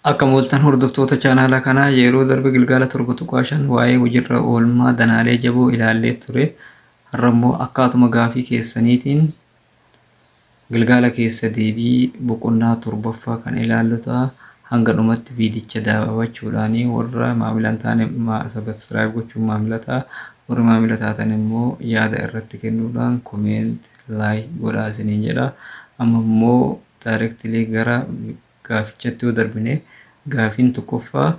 Akkam ooltan hordoftoota chaanaala kanaa yeroo darbe gilgaala torba tuqaa shan waa'ee hojiirra oolmaa danaalee jaboo ilaallee ture. Har'a immoo akkaatuma gaafii keessaniitiin gilgaala keessa deebii boqonnaa torbaffaa kan ilaallu ta'a. Hanga dhumatti viidicha daawwachuudhaan warra maamila hin taane sabiskiraayib gochuun maamila ta'a. Warri maamila taatan immoo yaada irratti kennuudhaan komeent laayik godhaa isiniin jedha. Amma immoo directly gara gaafichatti yoo darbine gaafiin tokkoffaa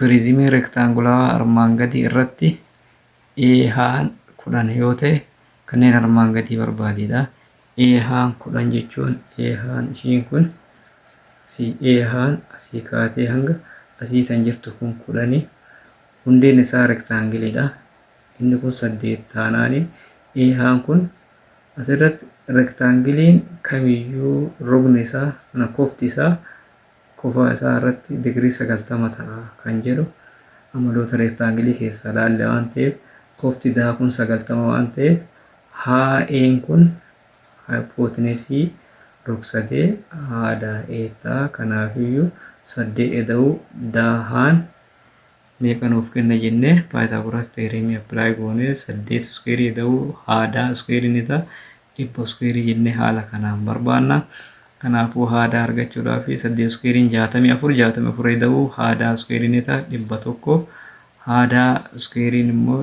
pirizimii rektaangulaawaa armaan gadii irratti eehaan kudhan yoo ta'e kanneen armaan gadii barbaadiidha. Eehaan kudhan jechuun eehaan ishiin kun asii eehaan asii kaatee hanga asii kan jirtu kun kudhani hundeen isaa rektaangiliidha. Inni kun saddeet taanaani eehaan kun As irratti rektaangiliin kamiyyuu rogni isaa, lakkoofti isaa, kofaa isaa irratti digirii 90 ta'a kan jedhu amaloota rektaangilii keessaa laalle waan ta'eef kofti daa kun 90 waan ta'eef haa'een kun haayipootinesii rogsadee haa daa ee ta'a. Kanaafiyyuu saddee eda'uu daa haan meeqa nuuf kenna jenne paayitaagoraas teereemii appilaayi goone saddeet iskuweerii jedhamu haadaa iskuweerii ni ta'a dhibba iskuweerii jennee haala kanaan barbaanna. Kanaafuu haadaa argachuudhaaf saddeet iskuweeriin jaatamii afur jaatamii afur jedhamu haadaa iskuweerii ni ta'a dhibba tokko haadaa iskuweeriin immoo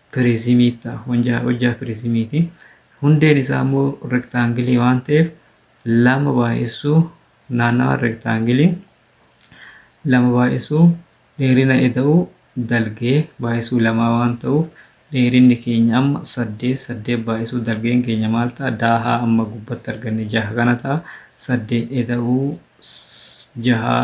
piriizimii ta'a. Hojjaa hojjaa piriizimiiti. Hundeen isaa immoo rektaangilii waan ta'eef lama baay'isuu naannawa rektaangilii lama baay'isuu dheerina eda'uu dalgee baay'isuu lamaa waan ta'uuf dheerinni keenya amma saddeet saddeet baay'isuu dalgeen keenya maal ta'a daahaa amma gubbatti arganne jaha kana ta'a saddeet eda'uu s- jahaa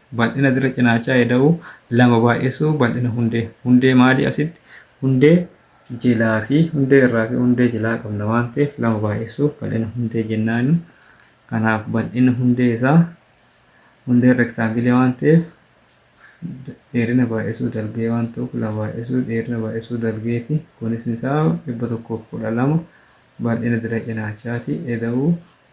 Bal'ina dirra cinaachaa eda'uu 2 baay'isuu bal'ina hundee. Hundee maalii asitti? Hundee jilaa fi hundee irraa fi hundee jilaa qabna waan ta'eef 2 baay'isuu bal'ina hundee jennaani. Kanaaf bal'ina hundee isaa hundeen rektaangilee waan ta'eef dheerina baay'isuu dalgee waan ta'uuf 2 baay'isuu dheerina baay'isuu dalgeeti. Kunis isaa 112 bal'ina dirra cinaachaati eda'uu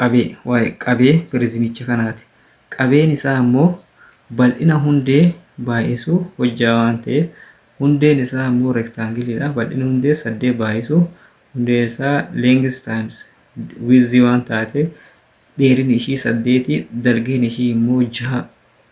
qabee waa'ee qabee pirizimicha kanaati. Qabeen isaa immoo bal'ina hundee baay'isuu hojjaa waan ta'eef hundeen isaa immoo rektaangiliidha. Bal'ina hundee saddeet baay'isuu hundee isaa lengis taayims wiizii waan taateef dheerin ishii saddeeti dalgeen ishii immoo jaha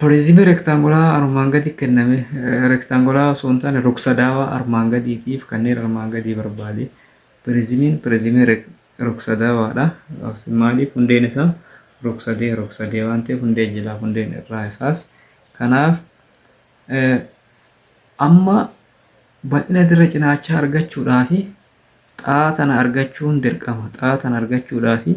Piriizimii rektaangulaa armaan gadi kenname rektaangulaa osoo hin taane ruksadaawaa armaan gadiitiif kanneen armaan gadii barbaade. Piriizimiin piriizimii ruksadaawaadha. Maaliif hundeen isaa ruksadee ruksadee waan ta'eef hundee jilaa hundeen irraa isaas. Kanaaf amma bal'ina dirra cinaachaa argachuudhaa fi xaa tana argachuun dirqama. Xaa tana argachuudhaa fi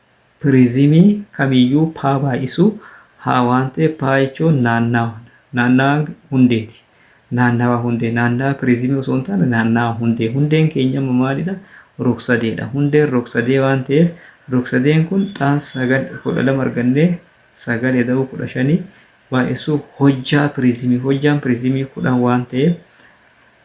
Turizimii kamiyyuu paa baay'isu haa waan ta'eef paa jechuun naannawa naannawa hundeeti naannawa hundee naannawa turizimii osoo hin taane naannawa hundee hundeen keenya amma maalidha rogsadeedha hundeen rogsadee waan ta'eef rogsadeen kun xaan sagal kudha lama argannee sagal eda'uu kudha shanii baay'isuu hojjaa turizimii hojjaan turizimii kudhan waan ta'eef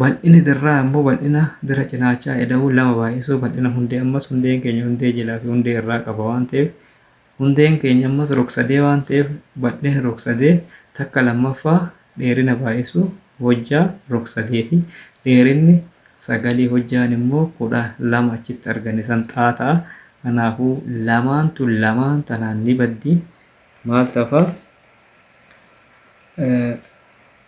Bal'inni dirraa ammoo bal'ina dira cinaachaa eda'uu lama baay'isuu bal'ina hundee ammas hundeen keenya hundee jilaa fi hundee irraa qaba waan ta'eef hundeen keenya ammas rogsadee waan ta'eef bal'inni rogsadee takka lammaffaa dheerina baay'isuu hojjaa rogsadeeti dheerinni sagalii hojjaan immoo kudha lama achitti arganne san xaa ta'a kanaafuu lamaan tun lamaan tanaan ni baddi maal tafa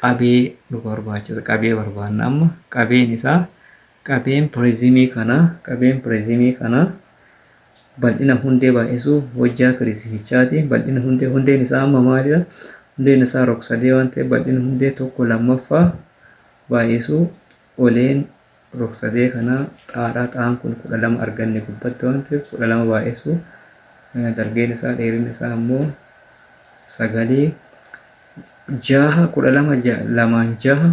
qabee nu barbaachisa qabee barbaanna amma qabeen isaa qabeen piriizimii kana qabeen piriizimii kana bal'ina hundee baay'isuu hojjaa piriizimichaati bal'ina hundee hundeen isaa amma maalidha hundeen isaa rog sadee waan ta'eef bal'ina hundee tokko lammaffaa baay'isuu Oleen rogsadee kana xaadha. Xaan kun 12 arganne gubbatti waan ta'eef 12 baay'isu dalgeen isaa dheerinni isaa ammoo sagalii jaha 12 lamaan jaha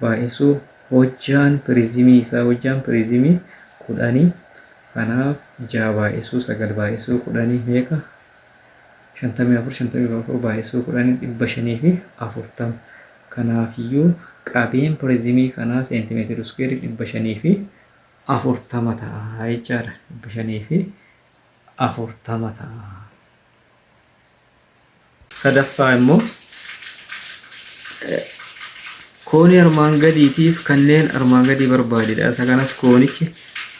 baay'isu hojjaan pirizimii isaa hojjaan pirizimii kudhanii kanaaf jaha baay'isuu sagal baay'isuu kudhanii meeqa 54 54 baay'isuu kudhanii dhibba shanii fi afurtama Kanaafiyyuu qabeen piriizimii kanaa seentimeetira iskuweerii 540 ta'a jechaadha. 540 ta'a. Sadaffaa immoo koonii armaan gadiitiif kanneen armaan gadii barbaadidha. Isa kanas koonichi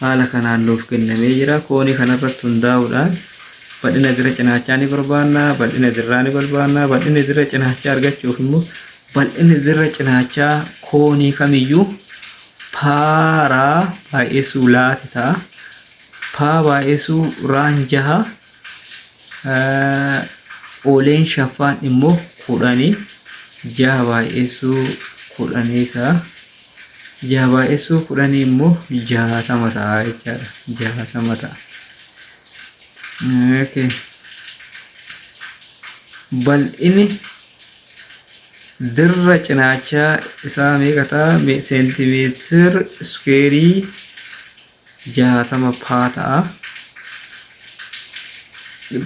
haala kanaan nuuf kennamee jira. Koonii kanarratti hundaa'uudhaan Bal'ina dirra cinaachaa ni barbaanna, bal'ina dirraa ni barbaanna, bal'ina dirra cinaachaa argachuuf immoo bal'inni dirra cinaachaa koonii kamiyyuu paaraa baay'isuu laati ta'a. Paa baay'isuu raan jaha ooleen shaffaan immoo kudhanii jaha baay'isuu kudhanii ta'a. Jaha baay'isuu kudhanii immoo jahatama ta'a jechaadha. Jahatama ta'a. Okay. Bal'inni dirra cinaachaa isaa meeqa ta'a? Me- Seentimeetir iskuweerii jaatama paa ta'a.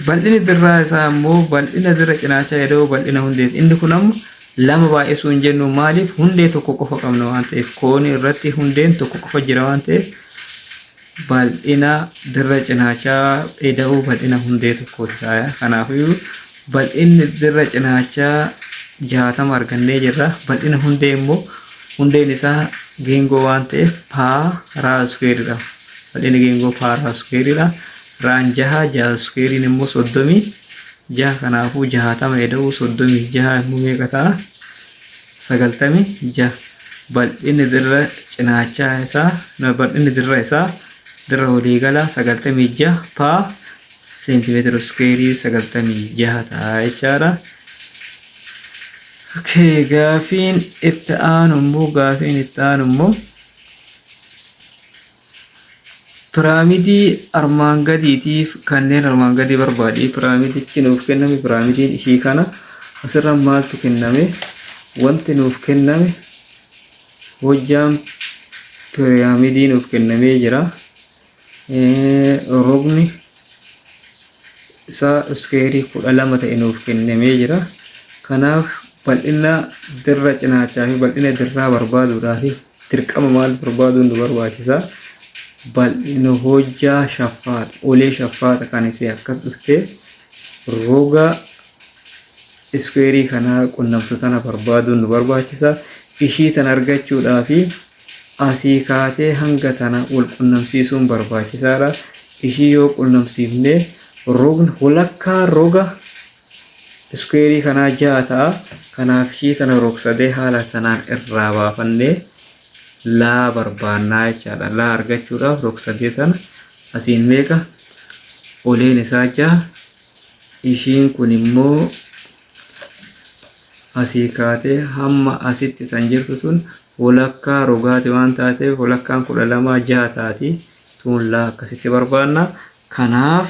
Bal'inni dirraa isaa immoo bal'ina dirra cinaachaa eda'uu bal'ina hundeeti. Inni kun amma lama baay'isuu hin jennu maaliif hundee tokko qofa qabna waan ta'eef koonii irratti hundeen tokko qofa jira waan ta'eef bal'ina dirra cinaachaa ida'uu bal'ina hundee tokkooti taaya. Kanaafuu bal'inni dirra cinaachaa jaatama argannee jirra. Bal'ina hundee immoo hundeen isaa geengoo waan ta'eef paa raa iskuweeridha. Bal'inni geengoo paa raa iskuweeridha. Raan jaha jaha iskuweeriin immoo soddomii jaha kanaafuu jahatama ida'uu soddomii jaha immoo meeqa ta'a? 96 bal'inni dirra cinaachaa isaa na- bal'inni dirra isaa dirra waliigalaa 96 paa seentimeetira iskeerii 96 ta'a jechaadha. Okay, gaafiin itti aanu immoo gaafiin itti aanu immoo Piraamidii armaan gadiitiif kanneen armaan gadii barbaadi. Piraamidichi nuuf kenname piraamidiin ishii kana asirra maaltu kenname wanti nuuf kenname hojjaan piraamidii nuuf kennamee jira. Rogni isaa iskeerii kudha lama ta'e nuuf kennamee jira. Kanaaf bal'ina dirra cinaachaa fi bal'ina dirraa barbaaduudhaaf dirqama maal barbaaduun nu barbaachisa bal'ina hojjaa shaffaata olee shaffaata kan isee akkas dhufte roga iskuweerii kanaa qunnamtu tana barbaaduun nu barbaachisa ishii tan argachuudhaa fi asii kaatee hanga tana wal qunnamsiisuun barbaachisaadha ishii yoo qunnamsiifne rogni walakkaa roga iskuweerii kanaa ja'a ta'a. Kanaaf ishii tana rogsadee haala tanaan irraa baafannee laa barbaannaa jechaadha. Laa argachuudhaaf rogsadee tana asiin meeqa oleen isaa ja'a ishiin kun immoo asii kaatee hamma asitti tan jirtu tun walakkaa rogaati waan taateef walakkaan kudha lamaa jaha taati tuun laa akkasitti barbaanna kanaaf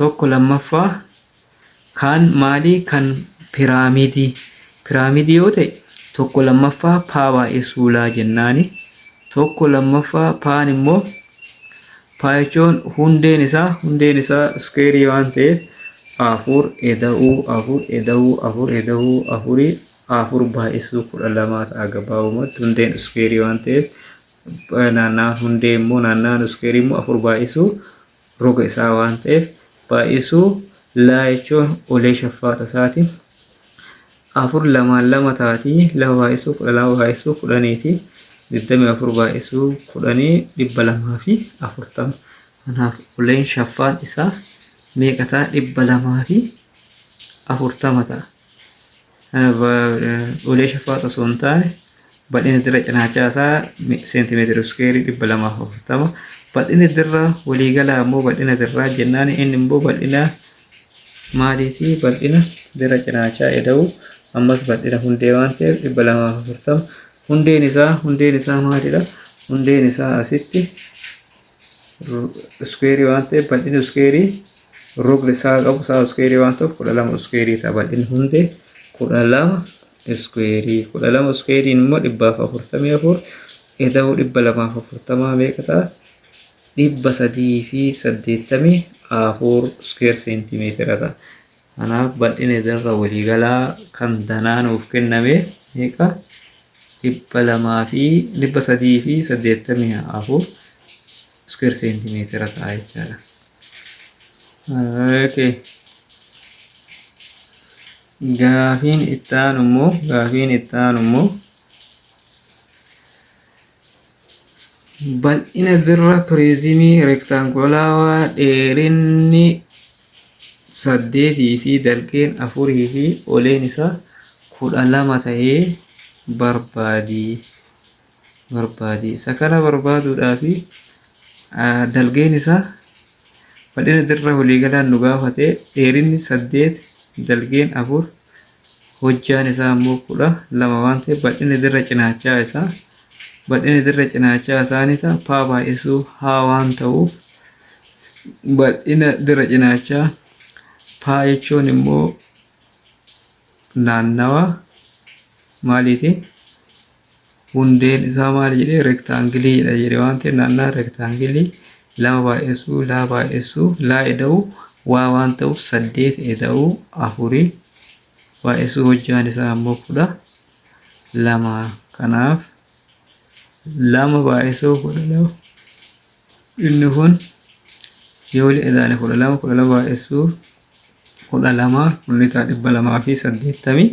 1 2ffaa Kaan maalii kan piraamidii piraamidii yoo ta'e 1 2ffaa paa baay'ee suulaa jennaani 1 2ffaa paan immoo paa jechuun hundeen isaa hundeen isaa iskeerii waan ta'eef afur eda'uu afur eda'uu afur eda'uu afurii afur baay'isuu kudha lamaa ta'a gabaabumatti hundeen iskeerii waan ta'eef naannaan hundee immoo naannaan iskeerii immoo afur baay'isuu roga isaa waan ta'eef baay'isuu laa jechuun ulee shaffaata isaati. afur lamaan lama taati lama baay'isuu kudha lama baay'isuu kudhaniiti digdamii afur baay'isuu kudhanii dhibba lamaa fi afurtama kanaaf uleen shaffaan isaa meeqa ta'a dhibba lamaa fi afurtama ta'a. Ulee shafaaxa osoo hin taane bal'inni dirra cinaachaa isaa seentimeetira iskeerii dhibba lamaaf afurtama. Bal'inni dirra waliigalaa ammoo bal'ina dirraa jennaan inni immoo bal'ina maaliiti? Bal'ina dirra cinaachaa eda'u ammas bal'ina hundee waan ta'eef dhibba lamaaf afurtama. Hundeen isaa hundeen isaa maalidha? Hundeen isaa asitti iskuweerii waan ta'eef bal'inni iskuweerii rogni isaa qabu isaa iskuweerii waan ta'uuf kudha lama iskuweerii ta'a bal'inni hundee kudha lama iskuweerii kudha lama iskuweeriin immoo dhibbaaf afurtamii afur eda'uu dhibba lamaaf afurtamaa meeqa ta'a dhibba sadii fi saddeettamii afur iskuweer seentimeetira ta'a. Kanaaf bal'ina darra waliigalaa kan danaa nuuf kenname meeqa? dhibba lamaa fi dhibba sadii fi saddeettamii afur iskuweer seentimeetira ta'a jechaadha. Okay. Gaafiin itti aanu immoo gaafiin itti aanu immoo Bal'ina dirra piriizimii rektaangulaawaa dheerinni saddeetii fi dalgeen afurii fi oleen isaa kudha lama ta'ee barbaadi. barbaadi. Isa kana barbaaduudhaaf dalgeen isaa bal'ina dirra waliigalaan nu gaafate dheerinni saddeet dalgeen afur hojjaan isaa ammoo kudha lama waan ta'eef bal'inni dirra cinaachaa isaa bal'inni dirra cinaachaa isaa ni ta'a paa baay'isuu haa waan ta'uuf bal'ina dirra cinaachaa paa jechuun immoo naannawa maaliiti hundeen isaa maal jedhee rektaangiliidha jedhe waan ta'eef naannaa rektaangilii lama baay'essuu laa baay'essuu laa eda'uu waa waan ta'uuf saddeet eda'uu afurii baay'essuu hojjaan isaa ammoo kudha lama kanaaf lama baay'essuu kudha lama inni kun yoo wali edaane kudha lama kudha lama baay'essuu kudha lama kunnitaa dhibba lamaa fi saddeettamii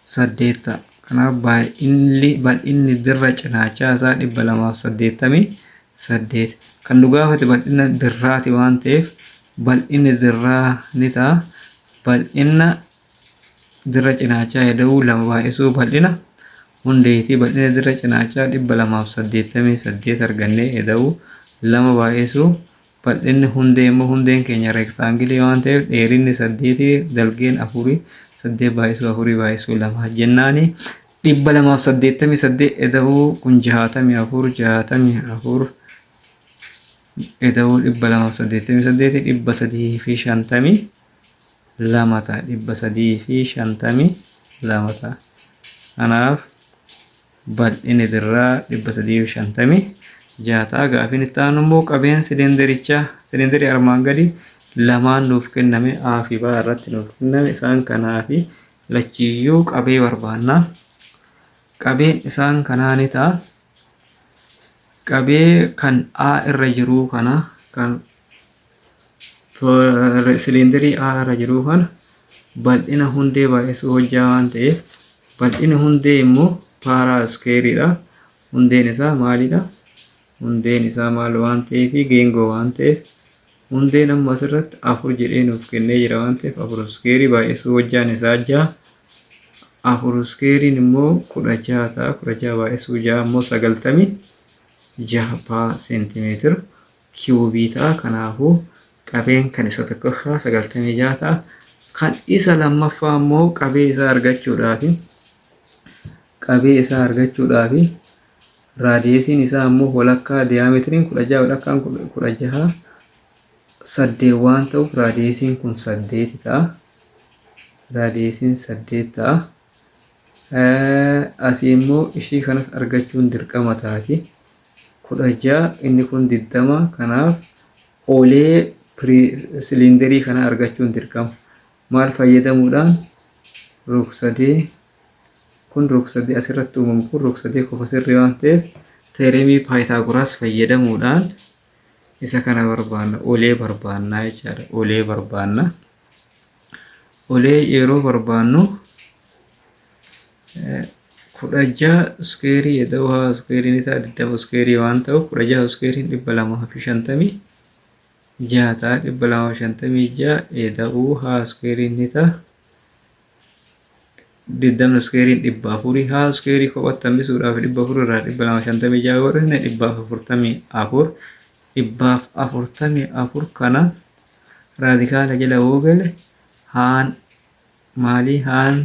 8 ta'a. Kanaaf baay'inni bal'inni dirra cinaachaa isaa 288. Kan nu gaafate bal'ina dirraati waan ta'eef bal'inni dirraa ni ta'a. Bal'ina dirra cinaachaa heda'uu lama baay'isuu bal'ina hundeetii bal'ina dirra cinaachaa 288 argannee heda'uu lama baay'isuu Bal'inni hundee immoo hundeen keenya reektaangilii waan ta'eef dheerinni saddeeti dalgeen afurii saddeet baay'isuu afurii baay'isuu lama jennaani dhibba lamaaf saddeettamii saddeet eda'uu kun jahaatamii afur jahaatamii afur eda'uu dhibba lamaaf saddeettamii saddeeti dhibba sadii fi shantamii lama ta'a dhibba sadii fi shantamii lama ta'a kanaaf bal'inni dirraa dhibba sadii fi shantamii ja'a ta'a gaafiin itti aanu immoo qabeen silindirichaa silindirii armaan gadii lamaan nuuf kenname A fi B irratti nuuf kenname isaan kanaa fi lachiyyuu qabee barbaanna qabeen isaan kanaa ni ta'a qabee kan A irra jiruu kana kan siliindarii A irra jiru kana bal'ina hundee baay'isuu hojjaa waan ta'eef bal'ina hundee immoo paaraa iskeeriidha. Hundeen isaa maalidha? Hundeen isaa maal waan ta'eef geengoo waan ta'eef hundeen amma asirratti afur jedhee nuuf kennee jira waan ta'eef afur iskeerii baay'isuu hojjaan isaa ja'a. Afur iskeeriin immoo kudha ja'a ta'a kudha ja'a baay'isuu ja'a immoo sagaltamii jaha paa seentimeetira. kiwubii ta'a. Kanaafuu, qabeen kan isa tokkoffaa 96 ta'a. Kan isa lammaffaa immoo qabee isaa argachuudhaaf qabee isaa argachuudhaaf raadiyeesiin isaa immoo walakkaa diyaameetiriin 16 walakkaan 16 saddeet waan ta'uuf raadiyeesiin kun saddeeti ta'a. Raadiyeesiin saddeet ta'a. Asii immoo ishii kanas argachuun dirqama taati. 16 inni kun 20 kanaaf olee siliinderii kana argachuun dirqama maal fayyadamuudhaan rogsadee kun rogsadee asirratti uumamu kun rogsadee kofa sirrii waan ta'eef teeremii paayitaaguraas fayyadamuudhaan isa kana barbaanna olee barbaannaa jechaadha olee barbaanna. Olee yeroo barbaannu kudha jaha iskeerii eda'uu haa iskeeriin isaa digdama iskeerii waan ta'uuf kudha jaha iskeeriin dhibba lamaa fi shantamii jaha ta'a dhibba lamaa fi shantamii jaha eda'uu haa iskeeriin ni ta'a digdamni iskeeriin dhibba afurii haa iskeerii kophatti hambisuudhaaf dhibba afur irraa dhibba lama shantamii ja'a yoo dhufne dhibbaaf afurtamii afur dhibbaaf afurtamii afur kana raadikaala jala yoo gale haan maalii haan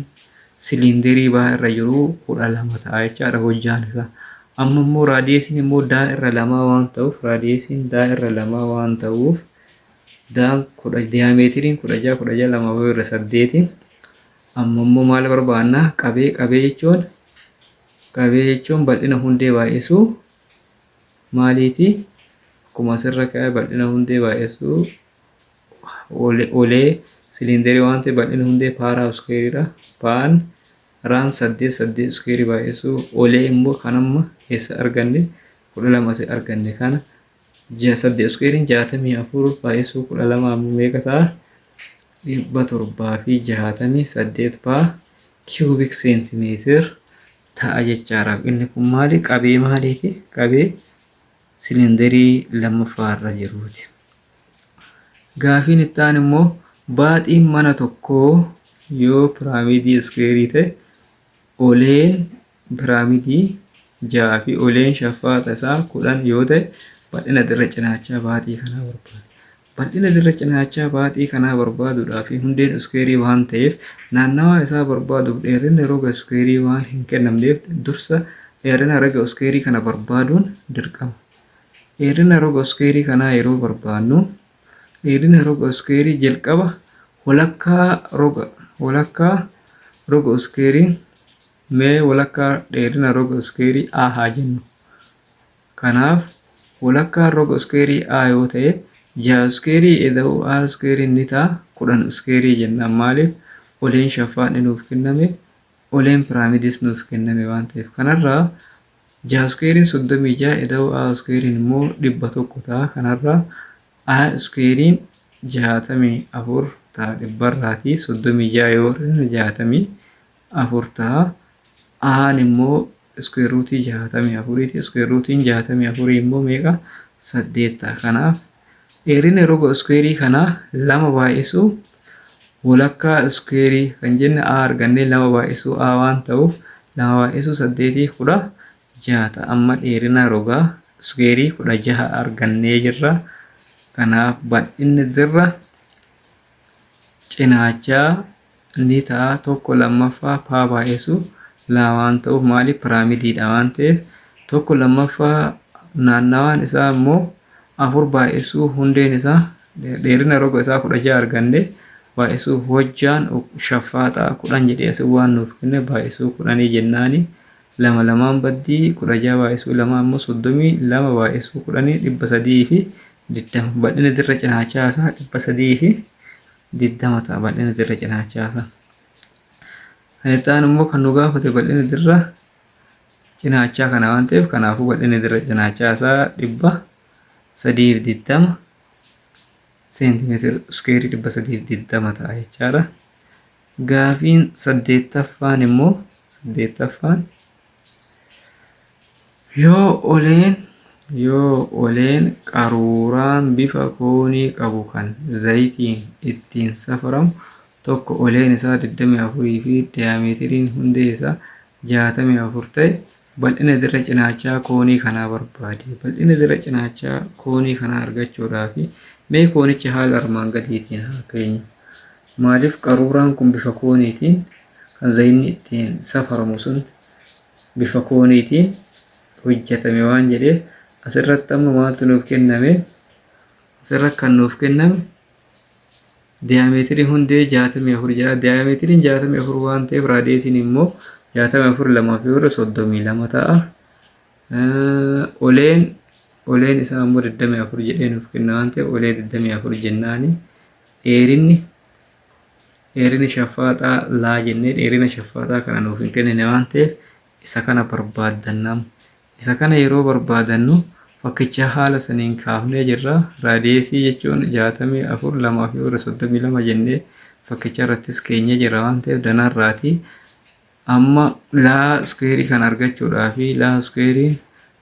siliinderii baa irra jiru kudha lama ta'a jechaadha hojjaan isaa amma immoo raadiyeesiin immoo daa irra lamaa waan ta'uuf raadiyeesiin daa irra lamaa waan ta'uuf daal kudha diyaameetiriin kudha jaha kudha jaha lama wayii irra saddeeti amma immoo maal barbaanna qabee qabee jechuun qabee jechuun bal'ina hundee baay'isuu maaliiti akkuma asirra ka'e bal'ina hundee baay'isuu olee siliindarii waan ta'e bal'ina hundee paaraa iskeeriidha paan raan saddeet saddeet iskeerii baay'isuu olee immoo kan amma eessa arganne kudha lama asi arganne kana Ji'a saddeet iskuweeriin jaatamii afur baay'isuu kudha lama ammoo meeqa ta'a? Dhibba torbaa fi jaatamii saddeet paa kiwubik seentimeetir ta'a jechaadha. Inni kun maali? Qabee maaliiti? Qabee silindarii lammaffaa irra jiruuti. Gaafiin itti aanu immoo baaxiin mana tokkoo yoo piraamidii iskuweerii ta'e oleen piraamidii 6 fi uleen shaffaata isaa 10 yoo ta'e bal'ina dirra cinaachaa baaxii kanaa barbaada. Bal'ina dirra cinaachaa baaxii kanaa barbaaduudhaa fi hundeen iskuweerii waan ta'eef naannawaa isaa barbaaduuf dheerinni roga iskuweerii waan hin kennamneef dursa dheerina roga iskuweerii kana barbaaduun dirqama. Dheerina roga iskuweerii kanaa yeroo barbaadnu dheerina roga iskuweerii jalqaba walakkaa roga walakkaa roga iskuweerii Mee walakkaa dheerina roga iskeerii A haa jennu. Kanaaf walakkaan roga iskeerii A yoo ta'e 6 iskeerii eda'uu A iskeeriin ni ta'a 10 iskeerii jennaan maaliif oleen shaffaan ni nuuf kenname oleen piraamidis nuuf kenname waan ta'eef kanarraa 6 iskeeriin 36 eda'uu A iskeeriin immoo 100 ta'a kanarraa A iskeeriin 64 ta'a dhibbarraatii 36 yoo hir'isne 60 4 taha. Ahaan immoo iskuweer ruutii 64 ti. Iskuweer ruutiin 64 immoo meeqa? 8 taha. Kanaaf dheerina roga iskuweerii kanaa lama baay'isuu walakkaa iskuweerii kan jenne A argannee lama baay'isuu A waan ta'uuf lama baay'isuu 8 kudha jaha ta'a. Amma dheerina rogaa iskuweerii kudha jaha argannee jirra. Kanaaf bal'inni dirra cinaacha ni ta'a tokko lammaffaa paa baay'isu lama waan ta'uuf maaliif piraamidiidha waan ta'eef tokko lammaffaa naannawaan isaa immoo afur baay'isuu hundeen isaa dheerina roga isaa kudha ja'a arganne baay'isuu hojjaan shaffaaxaa kudhan jedhee asii waan nuuf kenne baay'isuu kudhanii jennaani lama lamaan baddii kudha ja'a baay'isuu lama immoo soddomii lama baay'isuu kudhanii dhibba sadii fi digdama bal'ina dirra cinaachaa isaa dhibba sadii fi digdama ta'a bal'ina dirra cinaachaa isaa. Kan itti aanu immoo kan nu gaafate bal'ina dirra cinaachaa kana waan ta'eef kanaafuu bal'ina dirra cinaachaa isaa dhibba sadii fi digdama seentimeetira iskeerii dhibba sadii fi digdama ta'a jechaadha. Gaafiin saddeettaffaan immoo saddeettaffaan Yoo oleen yoo oleen qaruuraan bifa koonii qabu kan zayitiin ittiin safaramu tokko oleen isaa 24 fi diyaameetiriin hundee isaa 64 ta'e bal'ina dirra cinaachaa koonii kanaa barbaade. Bal'ina dirra cinaachaa koonii kanaa argachuudhaaf mee koonicha haala armaan gadiitiin haa keenyu. Maaliif qaruuraan kun bifa kooniitiin Kan zayinni ittiin safaramu sun bifa kooniitiin hojjetame waan jedheef asirratti amma maaltu nuuf kenname asirratti kan nuuf kenname diyaameetirii hundee 64 jedha diyaameetiriin 64 waan ta'eef raadeesiin immoo 64 lamaa fi warra 32 ta'a oleen oleen isaa immoo 24 jedhee nuuf kenna waan ta'eef olee 24 jennaani dheerinni dheerina shaffaaxaa laa jennee dheerina shaffaaxaa kana nuuf hin kennine waan ta'eef isa kana barbaadannam isa kana yeroo barbaadannu fakkicha haala saniin kaafnee jirra raadiyeesii jechuun jaatamii afur lamaa fi warra soddomii lama jennee fakkicha irrattis keenyee jirra waan ta'eef danarraati amma laa iskuweerii kan argachuudhaa fi laa iskuweerii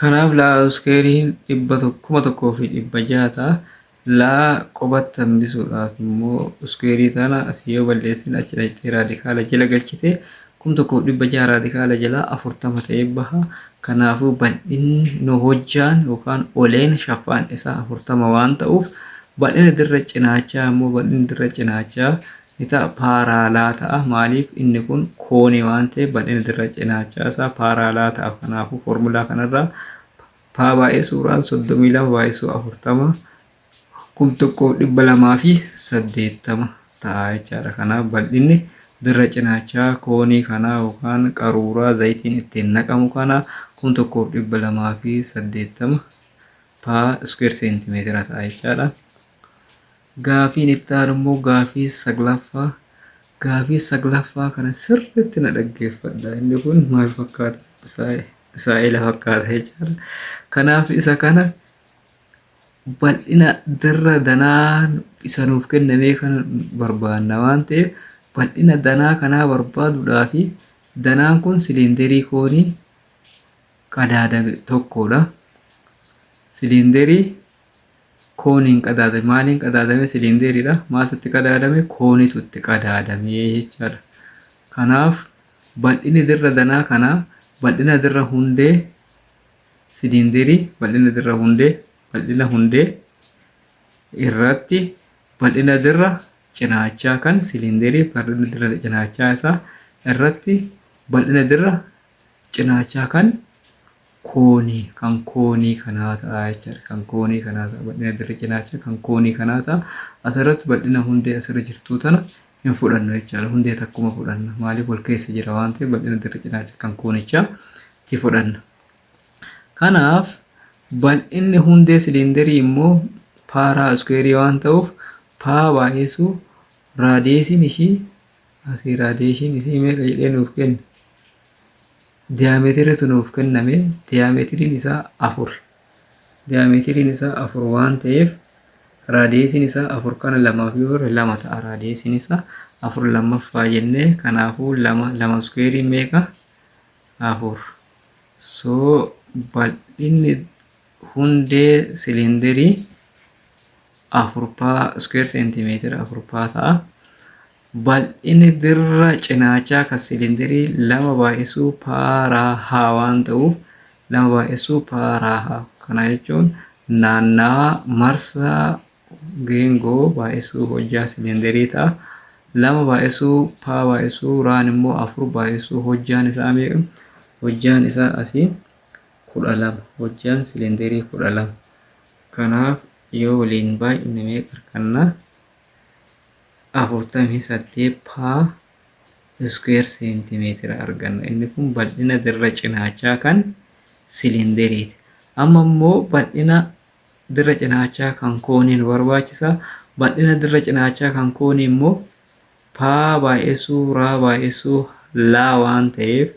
Kanaaf laa uskeeriin dhibba tokko- kuma tokkoo fi dhibba jaha ta'a. Laa qobatti hambisuudhaaf immoo uskeerii tana asii yoo balleessine achi dhaqxee raadikaala jala galchite kum tokkoof dhibba jaha raadikaala jalaa afurtama ta'ee baha. Kanaafuu bal'inni nu hojjaan yookaan oleen shaffaan isaa afurtama waan ta'uuf bal'ina dirra cinaachaa immoo bal'inni dirra cinaachaa ni ta'a, paaraalaa ta'a. Maaliif? Inni kun koonii waan ta'eef bal'ina dirra cinaachaa isaa paaraalaa ta'a. Kanaafuu foormulaa kanarraa paa baay'ee suuraan 32 baay'isuu 40 kum tokkoof dhibba lamaa fi saddeettama ta'a jechaadha. Kanaaf bal'inni dirra cinaachaa koonii kanaa yookaan qaruuraa zayitiin ittiin naqamu kanaa kum tokkoof dhibba lamaa fi saddeettama paa iskuweer seentimeetira ta'a jechaadha. Gaafiin itti aanu immoo gaafii saglaffaa. Gaafii saglaffaa kana sirriitti na dhaggeeffadha. Inni kun maal fakkaata? Misaa'ela fakkaata jechaadha. Kanaaf isa kana bal'ina dirra danaa isa nuuf kennamee kan barbaanna waan ta'eef bal'ina danaa kanaa barbaaduudhaa fi danaan kun siliinderii koonii qadaadame tokkodha. Siliinderii kooniin qadaadame maaliin qadaadame siliindeeriidha maaltu itti qadaadame koonitu itti qadaadame jechaadha kanaaf bal'inni dirra danaa kanaa bal'ina dirra hundee siliindeerii bal'ina dirra hundee bal'ina hundee irratti bal'ina dirra cinaachaa kan siliindeerii bal'ina dirra cinaachaa isaa irratti bal'ina dirra cinaachaa kan koonii kan koonii kanaa ta'a jechaadha. Kan koonii kanaa ta'a bal'ina dirree cinaachaa kan koonii kanaa ta'a. Asirratti bal'ina hundee asirra jirtuu tana hin fudhannu jechaadha. Hundee takkuma fudhanna. Maaliif wal keessa jira waan ta'eef bal'ina dirree cinaachaa kan koonichaa ti fudhanna. Kanaaf bal'inni hundee siliindarii immoo paaraa iskuweerii waan ta'uuf paa baay'isuu raadiyeesiin ishii Asii raadiyeeshiin isii meeqa jedhee nuuf kenne? Diyaameetiriitu nuuf kenname. Diyaameetiriin isaa afur. Diyaameetiriin isaa afur waan ta'eef raadiyeesiin isaa afur kana lamaaf yoo hirre lama ta'a raadiyeesiin isaa afur lammaffaa jennee kanaafuu lama lama iskuweerii meeqa? Afur. So bal'inni Hundee siliindirii afurpaa iskuweer seentimeetira afurpaa ta'a. Bal'inni dirra cinaachaa kan siliindirii lama baay'isuu paaraa haa waan ta'uuf lama baay'isuu paaraa haa. Kana jechuun naannawa marsaa geengoo baay'isuu hojjaa siliindirii ta'a. Lama baay'isuu paa baay'isuu raan immoo afur baay'isuu hojjaan isaa meeqa? Hojjaan isaa asii 12. Hojjaan silinderii 12. Kanaaf yoo waliin baay'inne meeqa arganna? 48 paa iskuweer seentimeetira arganna. Inni kun bal'ina dirra cinaachaa kan silinderiiti. Amma immoo bal'ina dirra cinaachaa kan koonii nu barbaachisa. Bal'ina dirra cinaachaa kan koonii immoo paa baay'essuu raa baay'essuu laa waan ta'eef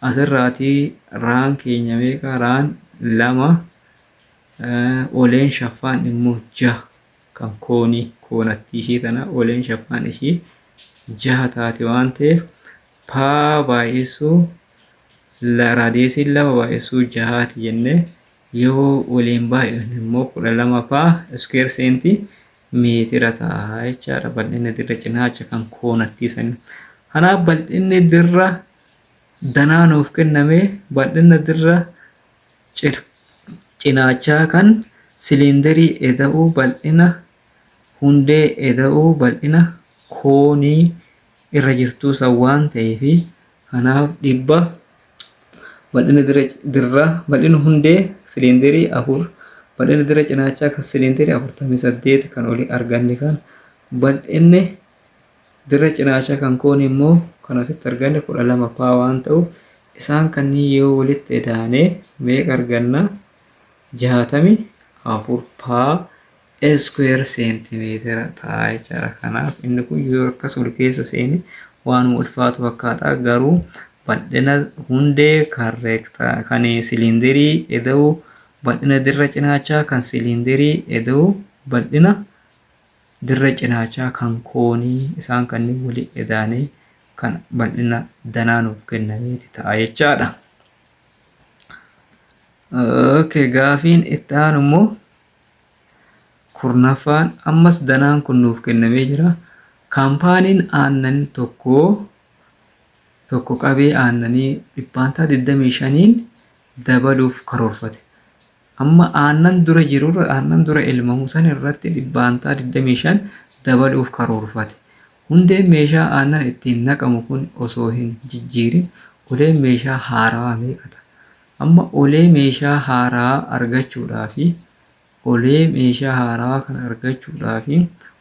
asirraatii raan keenya meeqa raan lama oleen shaffaan immoo jaha kan koonii koonattii ishii tana oleen shaffaan ishii jaha taate waan ta'eef paa baay'essuu raadiyeesiin lama baay'essuu jahaati jennee Yoo waliin baay'anne immoo 12 faa iskuweer seenti meetira ta'a jechaadha bal'inni dirra cinaacha kan koonattii sanii. Kanaaf bal'inni dirra danaa nuuf kenname bal'inna dirra cinaachaa kan siliindarii eda'uu bal'ina hundee eda'uu bal'ina koonii irra jirtuu san waan ta'eefi Kanaaf dhibba bal'ina dirraa bal'ina hundee siliindarii afur bal'ina dirra cinaachaa kan siliindarii afurtamii saddeet kan olii arganne kan bal'inni dirra cinaachaa kan koon immoo kan asitti arganne kudha lama paa waan ta'u isaan kanneen yoo walitti edaane meeqa arganna jaatami afur paa iskuweer seentimeetira ta'a jechaadha. Kanaaf inni kun yoo akkas ol keessa seene waanuma ulfaatu fakkaata garuu bal'ina hundee kan reektaa kan siliinderii eda'u bal'ina dirra cinaachaa kan siliinderii eda'u bal'ina dirra cinaachaa kan koonii isaan kanneen walii edaanee kan bal'ina danaa nuuf kennameeti ta'a jechaadha. Okay, gaafiin itti aanu immoo Kurnaffaan ammas danaan kun nuuf kennamee jira. Kaampaaniin aannan tokko tokko qabee aannanii dhibbaantaa 25n dabaluuf karoorfate. Amma aannan dura jirurra aannan dura elmamu san irratti dhibbaantaa 25 dabaluuf karoorfate. Hundeen meeshaa aannan ittiin naqamu kun osoo hin jijjiirin uleen meeshaa haarawaa meeqa ta'a? Amma olee meeshaa haaraa argachuudhaaf olee meeshaa haaraa kana argachuudhaaf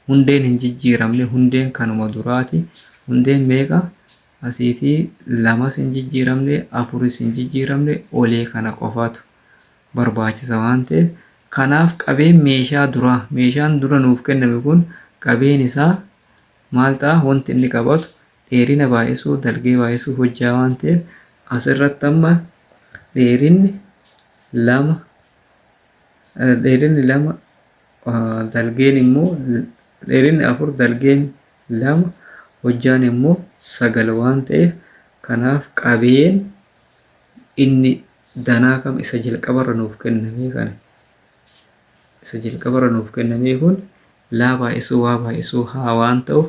hundeen hin jijjiiramne hundeen kanuma duraati hundeen meeqa asiiti lamas hin jijjiiramne afuris hin jijjiiramne olee kana qofaatu barbaachisa waan ta'eef kanaaf qabeen meeshaa duraa meeshaan dura nuuf kenname kun qabeen isaa maal ta'a wanti inni qabatu dheerina baay'isuu, dalgee baay'isuu hojjaa waan ta'eef as irratti amma dheerinni lama dheerinni lama dalgeen immoo dheerinni afur dalgeen lama hojjaan immoo sagal waan ta'eef kanaaf qabeen inni danaa kam isa jalqabarra nuuf kennamee kana isa jalqabarra nuuf kennamee kun laa baay'isuu waa baay'isuu haa waan ta'uuf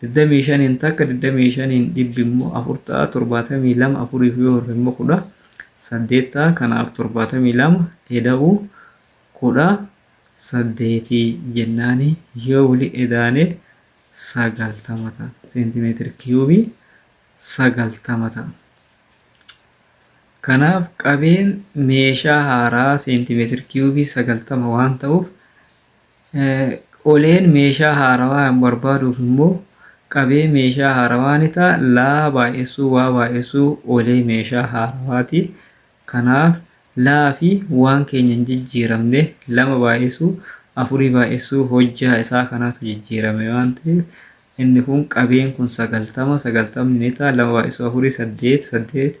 digdamii shaniin takka digdamii shaniin dhibbi immoo afur ta'a torbaatamii lama afuriif yoo hirre immoo kudha saddeet ta'a kanaaf torbaatamii lama eda'uu kudha saddeetii jennaani yoo wali edaane sagaltama ta'a seentimeetiri kiyuubii sagaltama ta'a. Kanaaf qabeen meeshaa haaraa seentimeetiri kiyuubii sagaltama waan ta'uuf Oleen meeshaa haarawaa hin barbaaduuf immoo qabee meeshaa haarawaa ni ta'a. Laa baay'essuu waa baay'essuu olee meeshaa haarawaati. Kanaaf laa fi waan keenya hin jijjiiramne lama baay'essuu afurii baay'essuu hojjaa isaa kanaatu jijjiirame waan ta'eef inni kun qabeen kun sagaltama sagaltamni ni ta'a lama baay'essuu afurii saddeet saddeet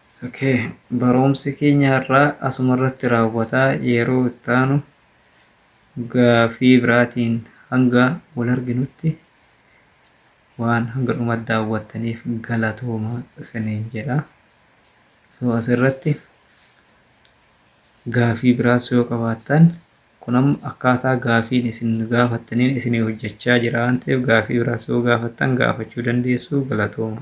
Okay barumsi keenya har'aa asuma irratti raawwata yeroo itti aanu gaafii biraatiin hanga wal arginutti waan hanga dhuma daawwattaniif galatooma isiniin jedha. So asirratti gaafii biraas yoo qabaattan kun amma akkaataa gaafiin isin gaafattaniin isinii hojjechaa jira waan ta'eef gaafii biraas yoo gaafattan gaafachuu dandeessu galatooma.